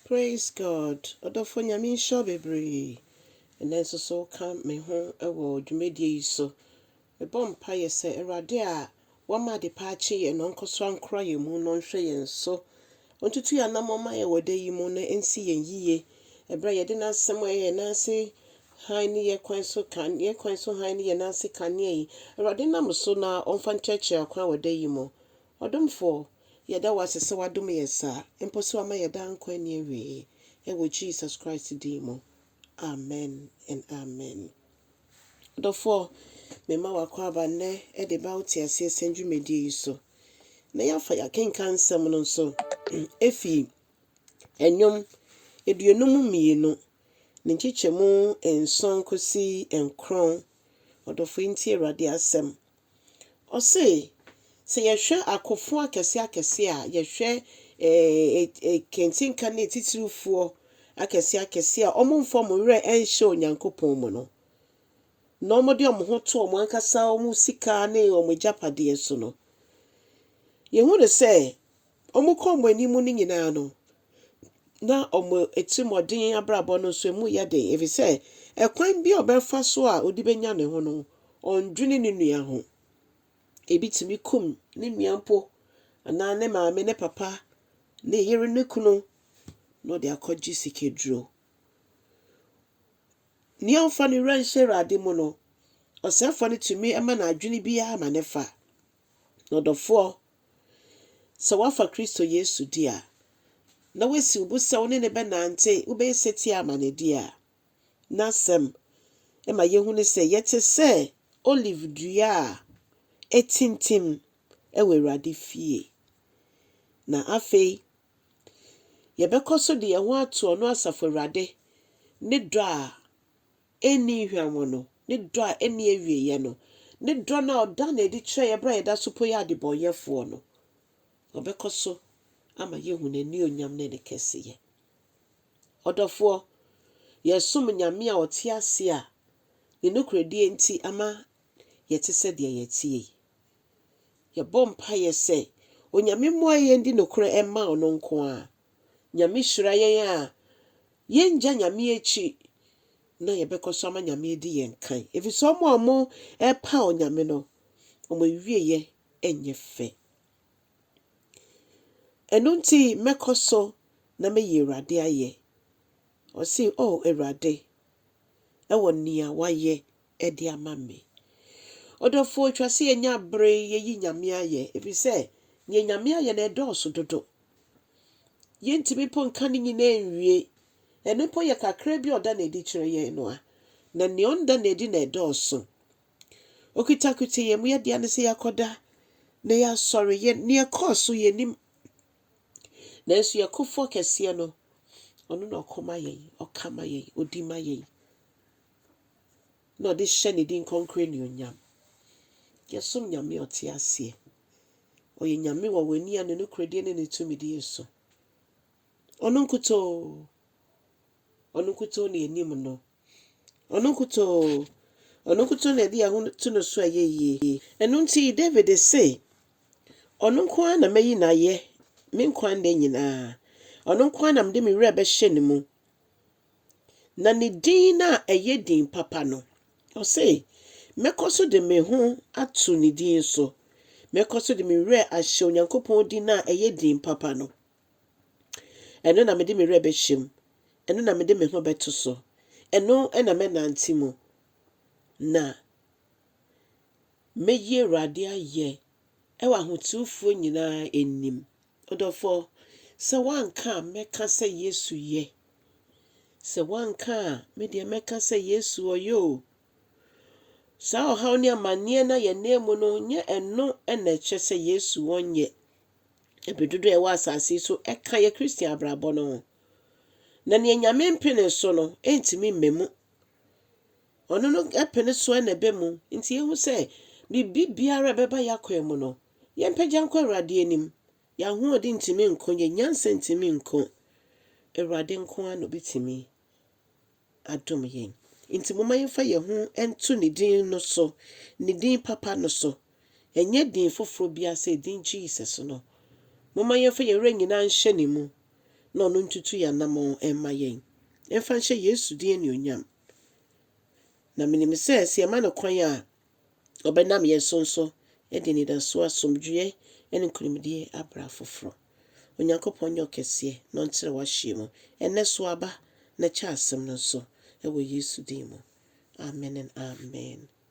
Praise God ɔdɔfoɔ Nyame nhyira wo bebree ɛnɛ nso so woka me ho wɔ dwumadie yi so mebɔ mpaeɛ sɛ Awurade a wama adepa akye yɛn no ɔnkɔ so ankora yɛn mu na ɔnhwɛ yɛn so ɔntutu yɛn anammɔn ma yɛn wɔ da yi mu na ɛnsi yɛn yie ɛberɛ a yɛde n'asɛm a ɛyɛ yɛn nan ase hann ne yɛn kwan so kan yɛn kwan so hann ne yɛn nan ase kanea yi Awurade nam so na ɔmfa nkyerɛkyerɛ akwan wɔ da yi mu Ɔdomfoɔ, yɛda wo ase sɛ woadom yɛn saa, mpo sɛ woama yɛn daa nkwa nni awieɛ, wɔ Jesus Christ din mu, Amen and Amen. Ɔdɔfoɔ, mema wo akwaaba nnɛ de ba wo teaseɛ sɛm dwumadie yi so, na yɛafa yɛn akenkan nsɛm no nso ɛfiri Nnwom aduonum mmienu, ne nkyekyɛmu nson kɔsi nkron. Ɔdɔfoɔ yi ntie Awurade asɛm, Ɔse, sɛ yɛhwɛ akofo akɛse akɛse a, yɛhwɛ akentenka ne atitiriwfoɔ akɛse akɛse a wɔmfa wɔn werɛ ɛnhyɛ Onyankopɔn mu no, na wɔde wɔn ho to wɔn ankasa wɔn sika ne wɔn agyapadeɛ so no, yɛhu no sɛ Wɔkɔ wɔn anim no nyinaa no, na wɔn atirimɔden abrabɔ no nso emu yɛ den, efisɛ ɛkwan bi a ɔbɛfa so a ɔde benya ne ho no, ɔndwene ne nua ho. Ebi tumi kum ne nua mpo, anaa ne maame, ne papa, ne yere, ne kunu, na ɔde akɔgye sikaduro. Nea ɔmfa ne werɛ nhyɛ Awurade mu no, ɔsɛefoɔ no tumi ma n'adwene biara ma ne fa. Na ɔdɔfoɔ Sɛ woafa Kristo Yesu di a, na woasi wo bo sɛ wo ne no bɛnante, wobɛyɛ setie ama no di a, n'Asɛm ma yehu no sɛ yɛte sɛ olive dua a atintim wɔ Awurade fie. Na afei, yɛbɛkɔ so de yɛn ho ato ɔno Asafo Awurade ne dɔ a enni hwammɔ no, ne dɔ a enni awieeɛ no, ne dɔ no a ɔda no adi kyerɛ yɛn berɛ a yɛda so mpo yɛ adebɔnyɛfoɔ no, ɔbɛkɔ so ama yɛahu n'anuonyam ne ne kɛseyɛ. Ɔdɔfoɔ, yɛsom Nyame a ɔte ase a ne nokorɛdie nti ama yɛte sɛ deɛ yɛteɛ yi. Yɛbɔ mpaeɛ sɛ Onyame mmoa yɛn di nokorɛ mma ɔno nko ara, Nyame hyira yɛn a, yɛngya Nyame akyi na yɛbɛkɔ so ama Nyame adi yɛn kan. Ɛfiri sɛ wɔn a wɔrepaw Nyame no, wɔn awieeɛ nyɛ fɛ. Ɛno nti mɛkɔ so na mɛyi Awurade ayɛ. Ɔse, O Awurade, ɛwɔ nea wayɛ de ama me. Ɔdɔfoɔ, ɛtwa sɛ yɛnya bere yɛyi Nyame ayɛ, ɛfiri sɛ neɛ Nyame ayɛ no ɛdɔɔso dodo. Yɛntumi mpo nka ne nyinaa nwie. Ɛno mpo yɛ kakra bi a ɔda no adi kyerɛ yɛn no a, na neɛ ɔnda no adi na ɛdɔɔso. Okitakuta yɛn mu, yɛdea ne sɛ yɛakɔda na yɛasɔre, yɛ neɛ ɛkɔɔ so yɛnim. Nanso yɛ kofoɔ kɛseɛ no, ɔno na ɔko ma yɛn, ɔka ma yɛn, ɔdi ma yɛn. na ɔde hyɛ ne din kronkron anuonyam. Yɛsom Nyame a ɔte aseɛ. Ɔyɛ Nyame wɔ w'ani a ne nokorɛdie ne ne tumidie so. Ɔno nkutoo, ɔno nkutoo na yɛnim no. Ɔno nkutoo, ɔno nkutoo na yɛde yɛn ho to no so a ɛyɛ yie. Ɛno nti David se, Ɔno nko ara na mɛyi no ayɛ me nkwa nna nyinaa. Ɔno nko ara na mede me werɛ bɛhyɛ ne mu. Na ne din a ɛyɛ din papa no, ɔse, Mɛkɔ so de me ho ato ne din so, mɛkɔ so de me werɛ ahyɛ Onyankopɔn din a ɛyɛ din papa no. Ɛno na mede me werɛ bɛhyɛ mu, ɛno na mede me ho bɛto so, ɛno na mɛnante mu, na mɛyi Awurade ayɛ wɔ ahotefoɔ nyinaa anim. Ɔdɔfoɔ, sɛ woanka a mɛka sɛ Yesu yɛ. Sɛ woanka a me deɛ mɛka sɛ Yesu ɔyɛ o. Saa ɔhaw ne amanneɛ no a yɛnam mu no, nyɛ ɛno na ɛkyerɛ sɛ Yesu ɔnyɛ. Ɛbɛ dodoɔ a ɛwɔ asase yi so ɛka yɛ Christian abrabɔ no ho. Na neɛ Nyame mpene so no ɛntumi mma mu. Ɔno no pene so na ɛba mu. Nti yɛhu sɛ biribi biara a ɛbɛba yɛn akwan mu no, yɛmpagya nkɔ Awurade anim. Yɛn ahoɔden ntumi nko, yɛn nyansa ntumi nko. Awurade nko ara na ɔbɛtumi adom yɛn. Nti momma yɛmfa yɛn ho nto ne din no so, ne din papa no so. Ɛnyɛ din foforɔ biara sɛ din Jesus no. Momma yɛmfa yɛn werɛ nyinaa nhyɛ ne mu na ɔno ntutu yɛn anammɔn mma yɛn. Yɛmfa nhyɛ Yesu din anuonyam. Na menim sɛ sɛ yɛma no kwan a, ɔbɛnam yɛn so nso de anidasoɔ, asomdwoeɛ, ne nkonimdie abrɛ afoforɔ. Onyankopɔn nyɛ ɔkɛseɛ na ɔnkyerɛ w'ahyeɛ mu. Ɛnnɛ so aba na kyɛ asɛm no nso wɔ Yesu din mu. Amen and Amen.